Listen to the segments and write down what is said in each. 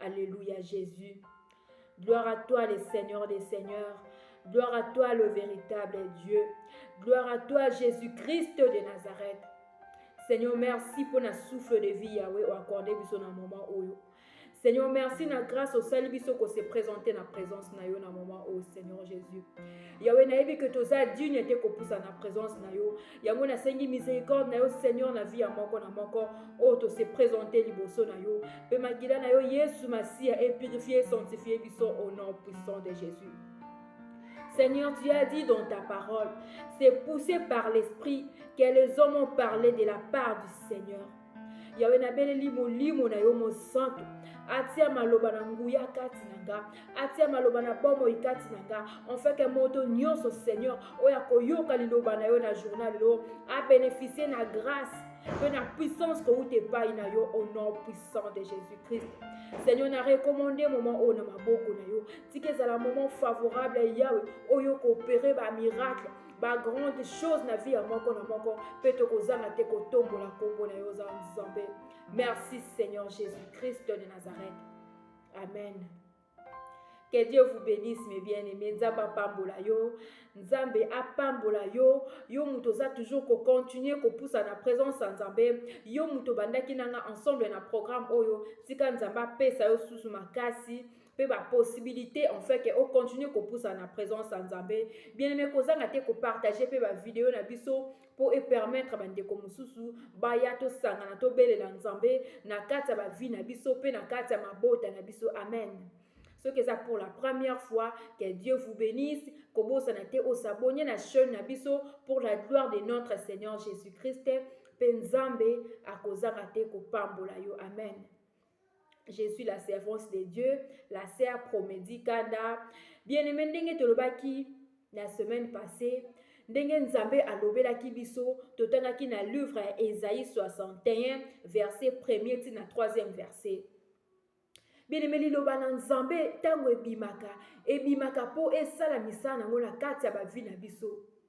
Alléluia Jésus. Gloire à toi le Seigneur des Seigneurs. Gloire à toi le véritable Dieu. Gloire à toi Jésus-Christ de Nazareth. Seigneur, merci pour la souffle de vie Yahweh au accordé biso na moment oyo. Seigneur, merci na grâce au salut biso ko se présenter na présence na yo na moment au Seigneur Jésus. Yahweh na que toza digne te ko pousa na présence na yo. yango nasengi miséricorde na yo seigneur na vie ya moko na moko oyo tose présente liboso na yo mpe makila na yo yesu masiya epurifie sanctifie biso au nom puissant de jésus Seigneur, tu as dit dans ta parole, c'est poussé par l'Esprit que les hommes ont parlé de la part du Seigneur. yawe nabeleli molimo na yo mosantu atia maloba na nguya kati na nga atia maloba na bomoi kati na nga enfeke moto nyonso seigneur oyo akoyoka liloba na yo na journal lelo abeneficie na grâce mpe na puissance kowuta epai na yo au nom puissant de jésus christ seigneur na recommande moment oyo na maboko na yo tika ezala moment favorable ya yawe oyo koopere bamiracle bagrande chose na vie ya moko na moko mpe tokozanga te kotombola nkombo na yo oza nzambe merci seigneur jésus christ de nazareth amen Que Dieu vous bénisse, mes bien-aimés. Nzambe apambola yo. Nzambe apambola yo. Yo muto za toujours ko continuer ko poussa na présence ya Nzambe. Yo muto bandaki nanga ensemble na programme oyo. Tika Nzambe apesa yo susu makasi. mpe bapossibilité en fait ke ocontinue kopusa na présence ya nzambe bien aime kozanga te kopartage mpe bavideo na biso mpo epermettre bandeko mosusu baya tosangana tobelela nzambe na kati ya bavie na biso mpe na kati ya mabota na biso amen soki eza pour la première fois que dieu vous bénisse kobosana te osabonye na chaîne na biso pour la gloire de notre seigneur jésus christ mpe nzambe akozanga te kopambola yo amen je suis la servante de dieu la sœur promedi kanda bien aimé ndenge tolobaki la semaine passée ndenge nzambe alobelaki biso totangaki na livre ya esaïe 61 verset 1er ti na 3e verset bieleme liloba na nzambe ntango ebimaka ebimaka mpo esala misala yango na kati ya bavi na biso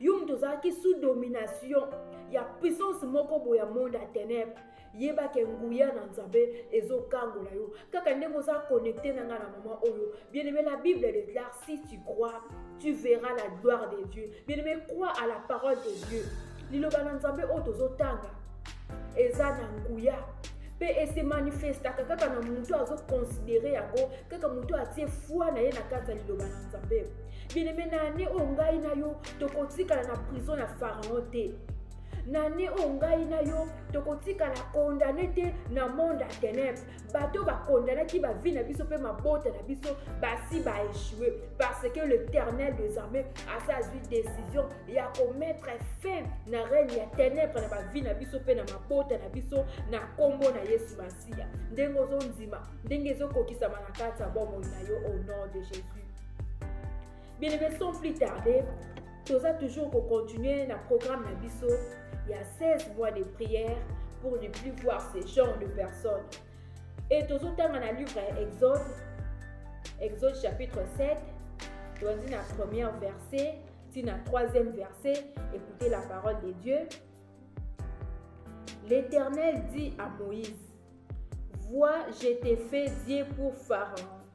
yo moto ozalaki sous domination ya puissance moko boye ya monde ya ténèbre yeba ke nguya na nzambe ezokangola yo kaka ndenge oza connecte na ngai na mama oyo bien aimé la bible déclare si tu crois tu verras la gloire de dieu bien aimé crois à la parole de dieu liloba na nzambe oyo tozotanga eza na nguya mpe esemanifestaka kaka na moto azokonsidere yango kaka moto atie foi na ye na kati ya liloba na nzambe bieneme na ane oyo ngai na yo tokotikala na prison ya pharaon te na ane oyo ngai na yo tokotikala kondane te na monde ya tenebre bato bakondanaki bavi na biso mpe mabota na biso basi baechue parce que l'éternel des armées asi azwi décision ya komettre fin na règne ya tenebre na bavi na biso mpe na mabota na biso na nkombo na yesu masiya ndenge ozondima ndenge ezokokisama na kati ya bomoi na yo au nom de jésus Bien aimé, sans plus tarder, toza toujours ko continuer na programme na biso ya 16 mois de prière pour ne plus voir ce genre de personnes. Et tozotanga na livre ya Exode, Exode chapitre 7, toanzi na premier verset ti na troisième verset, écoutez la parole de Dieu. L'Éternel dit à Moïse, Vois, je t'ai fait Dieu pour Pharaon,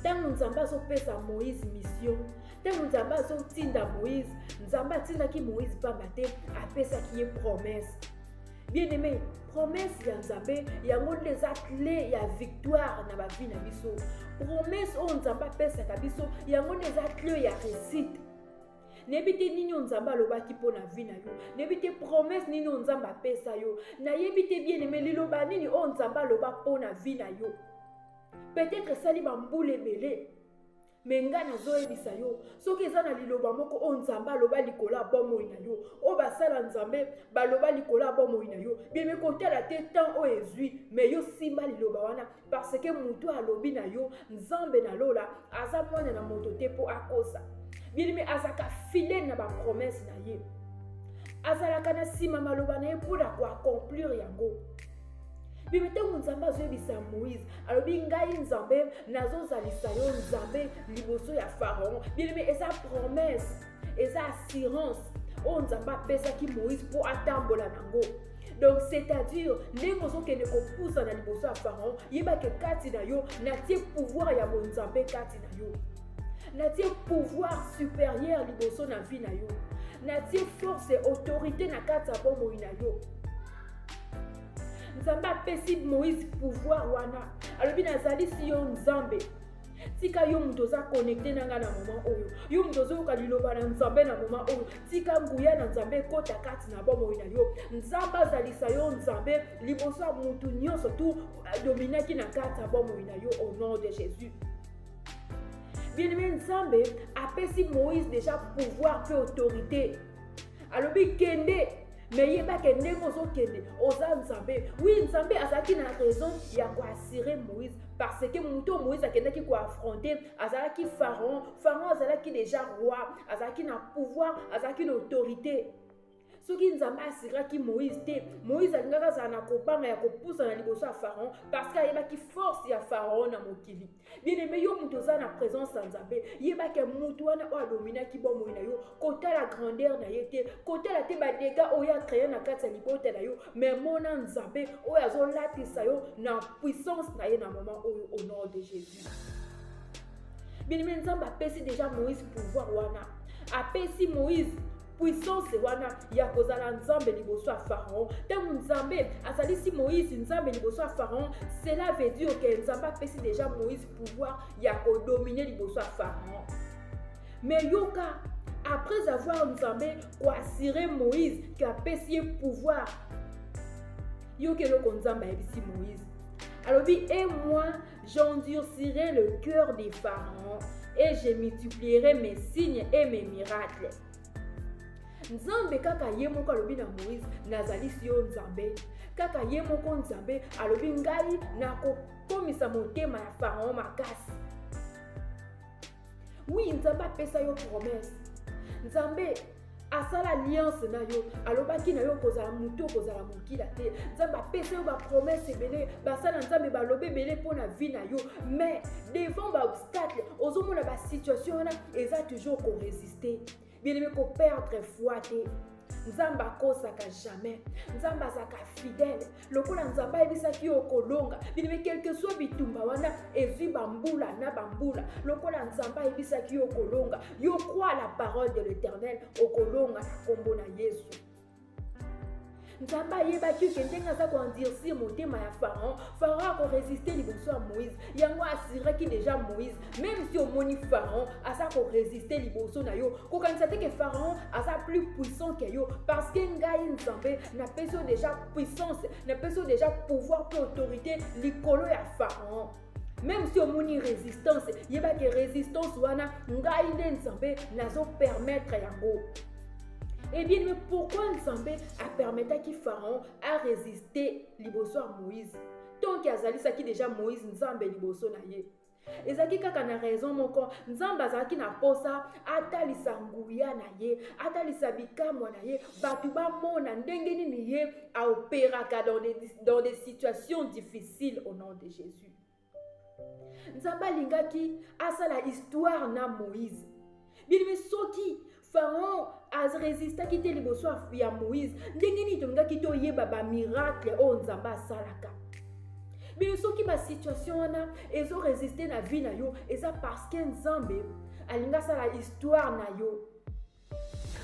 ntango nzambe azopesa moïse misio ntango nzambe azotinda moïse nzambe atindaki moïse mpamba te apesaki ye promese bien aimé promese ya nzambe yango nde eza cle ya victoire na bavi na biso promese oyo nzambe apesaka biso yango nde eza cle ya réussite nayebi te nini oyo nzambe alobaki mpo na vi na yo nayebi te promese nini oyo nzambe apesa yo nayebi te bien aimé liloba nini oyo nzambe aloba mpo na vi na yo peut-être esali bambula ebele me ngai nazoyebisa yo soki eza na liloba moko oyo nzambe aloba likolo ya bomoi na yo oyo basala nzambe baloba likolo ya bomoi na yo bebe kotala te temps oyo ezwi me yo simba liloba wana parce que motu alobi na yo nzambe na lola aza mwana na moto te mpo akosa bilimi azalaka fidele na bapromese na ye azalaka na nsima maloba na ye mpo na koaccomplir yango bibi ntango nzambe azoyebisa moïse alobi ngai nzambe nazozalisa yo nzambe liboso ya pharaon bilimi eza promesse eza assurance oyo nzambe apesaki moïse mpo atambola nango donc c'est-à-dire ndenge ozokende kopusana liboso ya pharaon yebake kati na yo natie pouvoir ya bonzambe kati na yo natie pouvoir supérieur liboso na vie na yo natie force autorité na kati ya bomoi na yo nzambe apesi moïse pouvoir wana alobi nazalisi yo nzambe tika yo moto oza connecte na ngai na moma oyo yo moto ozoyoka liloba na nzambe na moma oyo tika nguya na nzambe ekota kati na bomoi na yo nzambe azalisa yo nzambe liboso ya motu nyonso tu adominaki na kati ya bomoi na yo au nom de jésus bien-aimé nzambe apesi moïse déjà pouvoir mpe autorité alobi kende me yeba ke ndenge ozokende oza nzambe wi nzambe azalaki na raison ya koassure moïse parce que moto oyo moïse akendaki koaffronte azalaki pharaon pharaon azalaki déjà roi azalaki na pouvoir azalaki na autorité soki nzambe asiraki moïse te moïse alingaki azala na kobanga ya kopusana liboso ya pharaon parce que ayebaki force ya pharaon na mokili bien aimé yo moto oza na présence ya nzambe yeba ke moto wana oyo adominaki bomoi na yo kotala grandeur na ye te kotala te badega oyo acreye na kati ya libota na yo me mona nzambe oyo azolatisa yo na puissance na ye na moment oyo au nom de jésus bien aimé nzambe apesi déjà moïse pouvoir wana apesi moïse puissance wana ya kozala nzambe liboso ya pharaon ntango nzambe asalisi moïse nzambe liboso ya pharaon cela veut dire ke nzambe apesi déjà moïse pouvoir ya kodomine liboso ya pharaon mais yoka après avoir nzambe koassire moïse ke apesi ye pouvoir yoka eloko nzambe ayebisi moïse alobi e moi J'endurcirai le cœur des pharaons et je multiplierai mes signes et mes miracles. nzambe kaka ye moko alobi na moïse nazalisi yo nzambe kaka ye moko nzambe alobi ngai nakokomisa motema ya farao makasi Oui, Nzambe apesa yo promesse. Nzambe asala alliance na yo alobaki na yo okozala motu okozala mokila te nzambe apesa yo bapromese ebele basala nzambe balobi ebele mpo na vie na yo mais devant baobstacle ozomona basituation wana eza toujours koresiste bien aimé koperdre foi te nzambe akosaka jamais nzambe azalaka fidèle lokola nzambe ayebisaki yo okolonga bilime quelque soit bitumba wana ezwi bambula na bambula lokola nzambe ayebisaki yo okolonga yo crois la parole de l'éternel okolonga na nkombo na yesu nzambe ayebaki ke ndenge aza koendurcir motema ya pharaon pharaon akoresiste liboso ya moïse yango assuraki déjà moïse même si omoni pharaon aza koresiste liboso na yo kokanisa te ke pharaon aza plus puissant ke yo parce que ngai nzambe napesi yo déjà puissance napesi yo déjà pouvoir mpe autorité likolo ya pharaon meme si omoni resistance yeba ke resistance wana ngai nde nzambe nazopermettre yango ebien eh me pourkui nzambe apermetaki pharaon aresiste liboso ya moïse tonke azalisaki deja moïse nzambe liboso na ye ezalaki kaka na raison moko nzambe azalaki na mposa atalisa nguya na ye atalisa bikamwa na ye bato bamona ndenge nini ye aoperaka dans des, dans des situations difficiles au nom de jésus nzambe alingaki asala histoire na moïse bilimi soki pharaon aresistaki te liboso ya moïse ndenge nini tolingaki toyeba bamiracle oyo nzambe asalaka bino soki basituation wana ezoresiste na vie na yo eza parce que nzambe alingi asala histoire na yo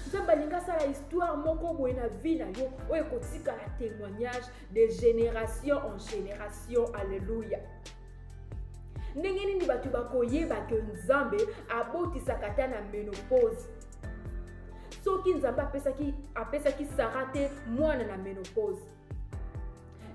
nzambe alingi asala histoire moko boye na vie na yo oyo ekotikala témoignage de génération en génération alleluya ndenge nini bato bakoyeba ke nzambe abotisaka ata na menopause soki nzambe apesaki, apesaki sara te mwana na menopause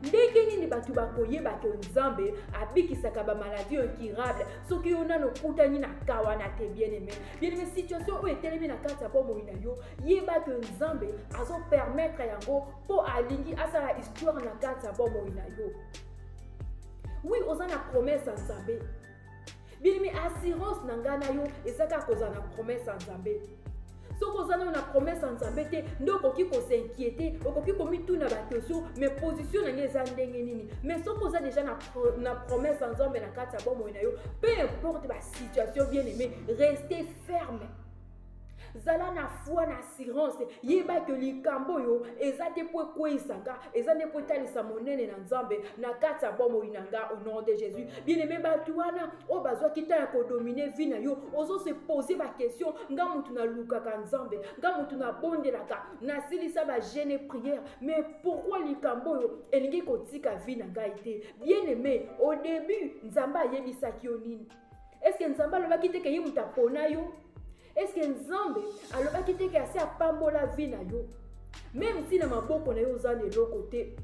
ndenge nini bato bakoyeba ke nzambe abikisaka bamaladi incurable soki yo nano okutani na kawana te bien-aime bien-aime situation oyo etelemi na kati ya bomoi na yo yeba ke nzambe azopermettre yango mpo alingi asala histoire na kati ya bomoi na yo wi oza na promese ya nzambe bilimi assurance na ngai na yo eza kaka kozala na promese ya nzambe soki oza nano na promese ya nzambe te nde okoki kosinquiete okoki komituna bakesio mais position na ngai eza ndenge nini mais soki oza deja na, pro, na promese ya nzambe na kati ya bomoi na yo peu importe basituation bien aimé reste ferme zala na foi na assurance yeba ke likambo oyo eza te mpo ekweisa nga eza nde mpo etalisa monene na nzambe na kati ya bomoi na nga au nom de jésus bien aimé bato wana oyo bazwaki ntango ya kodomine vie na yo ozose pose baquestion nga motu nalukaka nzambe nga motu nabondelaka nasilisa bagene prière mais pourkui likambo oyo elingi kotika vie na ngai te bien aimé au début nzambe ayebisaki yo nini eske nzambe alobaki te ke ye moto apona yo eske nzambe alobaki te ke asi apambola vi na yo meme nti na maboko na yo oza na eloko te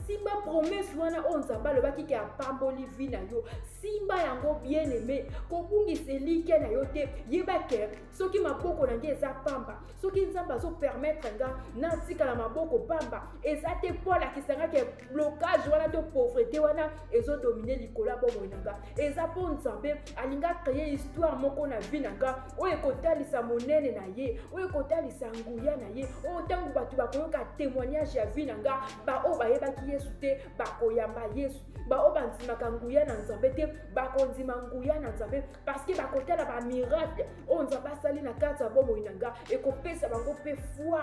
simba promese wana oyo nzambe alobaki ke apamboli vi na yo simba yango bien aime kobungisa elikya na yo te yeba ke soki maboko na ngai eza pamba soki nzambe azopermetre nga natikala maboko pamba eza te mpo alakisa nga ke blocage wana to pauvrete wana ezodomine likolo ya bomoi na nga eza mpo nzambe alingi akreye histoire moko na vie na nga oyo ekotalisa monene na ye oyo ekotalisa nguya na ye oyo ntango bato bakoyoka témoignage ya vie na nga baoyo bayebaki yesu te bakoyamba yesu baoyo bandimaka nguya na nzambe te bakondima nguya na nzambe parceke bakotala bamiracle oyo nzambe asali na kati ya bomoi na nga ekopesa bango mpe foi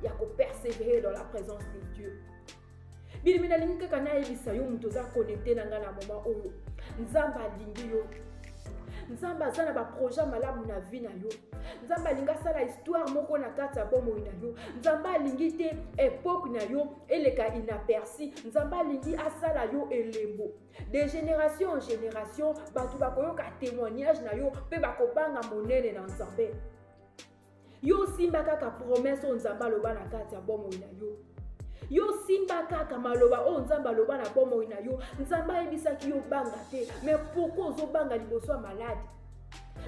ya kopersevere dans la présence de dieu bilimi nalingi kaka nayebisa yo moto oza connecte na ngai na moma oyo nzambe alingi yo nzambe aza na baprojet malamu na vie na yo nzambe alingi asala histoire moko na kati ya bomoi na yo nzambe alingi te epoke na yo eleka inaperci nzambe alingi asala yo elembo de génération en génération bato bakoyoka témoignage na yo mpe bakobanga monene na nzambe yo osimba kaka promese oyo nzambe aloba na kati ya bomoi na yo yo simba kaka maloba oyo nzambe aloba na bomoi na yo nzambe ayebisaki yo banga te me pourkui ozobanga liboso ya maladi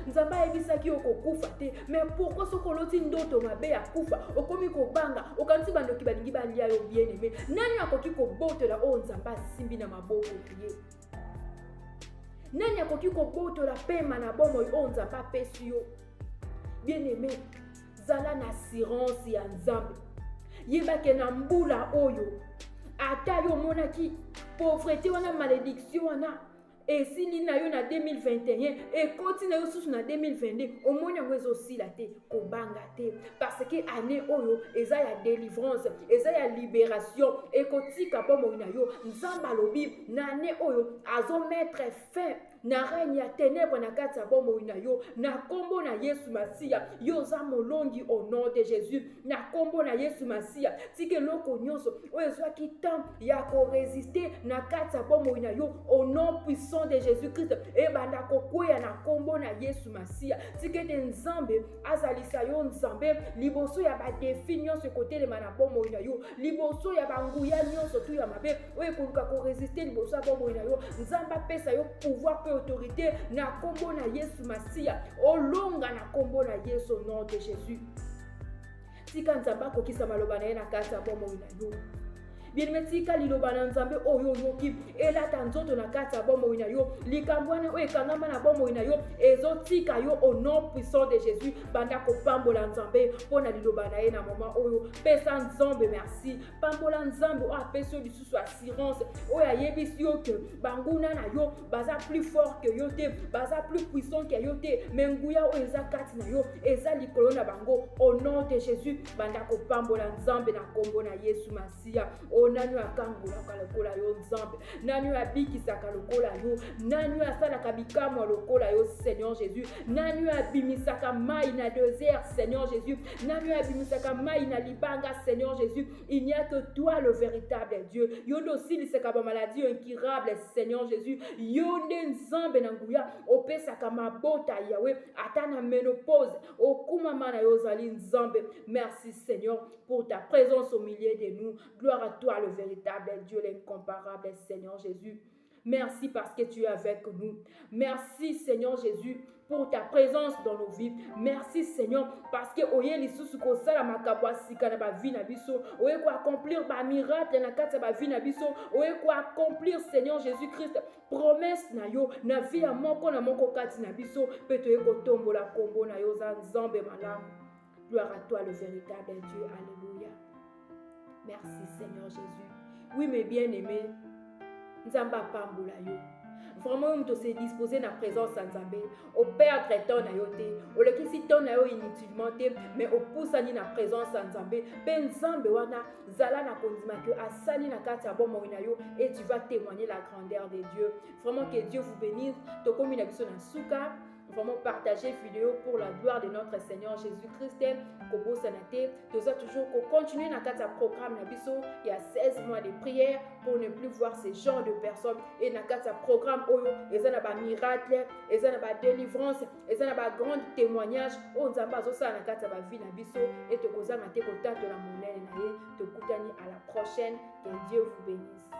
nzambe ayebisaki yo kokufa te mais pourkui soki oloti ndoto mabe ya kufa okomi kobanga okanisi bandoki balingi balia yo bien aime nani akoki kobotola oyo nzambe asimbi na maboko ye nani akoki kobotola pema na bomoi oyo nzambe apesi yo bien aime zala na assurance ya nzambe yebake na mbula oyo ata yo omonaki pauvrete wana malediction wana esili na yo na 2021 ekoti na yo susu na 2022 omoni yango ezosila te kobanga te parce que année oyo eza ya délivrance eza ya libération ekotika bomoi na yo nzambe alobi na année oyo azomettre fin na règne ya ténèbre na kati ya bomoi na yo na nkombo na yesu masiya yo oza molongi au nom de jésus na nkombo na yesu masiya tika eloko nyonso oyo ezwaki temps ya koresiste na kati ya bomoi na yo au nom puissant de jésus christ ebanda kokweya na nkombo na yesu masiya tika ete nzambe azalisa yo nzambe liboso ya badefi nyonso ekotelema na bomoi na yo liboso ya banguya nyonso tu ya mabe oyo ekoluka koresiste liboso ya bomoi na yo nzambe apesa yo pouvoir mpe autorité na nkombo na yesu masiya olonga na nkombo na yesu nom de jésus Tika Nzambe akokisa maloba na ye na kati ya bomoi na yo. Bien-aimé, tika liloba na Nzambe oyo oyoki elata nzoto na kati ya bomoi na yo. Likambo wana oyo ekangama na bomoi na yo ezotika yo au nom puissant de Jésus. Banda kopambola Nzambe mpo na liloba na ye na moment oyo. Pesa Nzambe merci pambola nzambe oyo apesi yo lisusu assurance oyo ayebisi yo ke banguna na yo baza plus fort ke yo te baza plus puissant ke yo te me nguya oyo eza kati na yo eza likolo na bango au nom de jésus banda kopambola nzambe na nkombo na yesu masiya oyo nani oyo akangolaka lokola yo nzambe nani oyo abikisaka lokola yo nani oyo asalaka bikamwa lokola yo seigneur jésus nani oyo abimisaka mai na desert seigneur jésus nani oyo abimisaka mai na libanga seigneur jésus il n'y a que toi le véritable dieu yo nde osilisaka bamaladi incurable seigneur jésus yo nde nzambe na nguya opesaka mabota yawe ata na menopause okumama na yo ozali nzambe merci seigneur pour ta présence au milieu de nous gloire à toi le véritable dieu l'incomparable seigneur jésus Merci parce que tu es avec nous. Merci Seigneur Jésus pour ta présence dans nos vies. Merci Seigneur parce que oye lisusu kosala makambo ya sika na bavi na biso oye koaccomplir bamiracle na kati ya bavi na biso oye koaccomplir Seigneur Jésus-Christ promesse na yo na vie ya moko na moko kati na biso mpe toye kotombola nkombo na yo oza nzambe malamu Gloire à toi, le véritable Dieu. Alléluia. Merci, Seigneur Jésus. Oui, mes bien-aimés, Nzamba Pamboula yo. Vraiment, on s'est disposé la présence sans Nzambé. Au perdre temps na yote. Au le si temps na yo inutilement te, mais au pousse ni la présence sans Nzambé. Ben Nzambé wana zala na kondima que asali na kati ya bomo na yo et tu vas témoigner la grandeur de Dieu. Vraiment que Dieu vous bénisse. Tokomi na biso na suka. vraiment partager vidéo pour la gloire de notre Seigneur Jésus-Christ kobosana te toza toujours continuer na kati ya programme na biso ya 16 mois de prière pour ne plus voir ce genre de personnes et na kati ya programme oyo eza na ba miracle eza na ba délivrance eza na ba grande témoignage oyo nzambe azosala na kati ya ba vie na biso et tokozanga te kotatola monene na ye tokutani à la prochaine que Dieu vous bénisse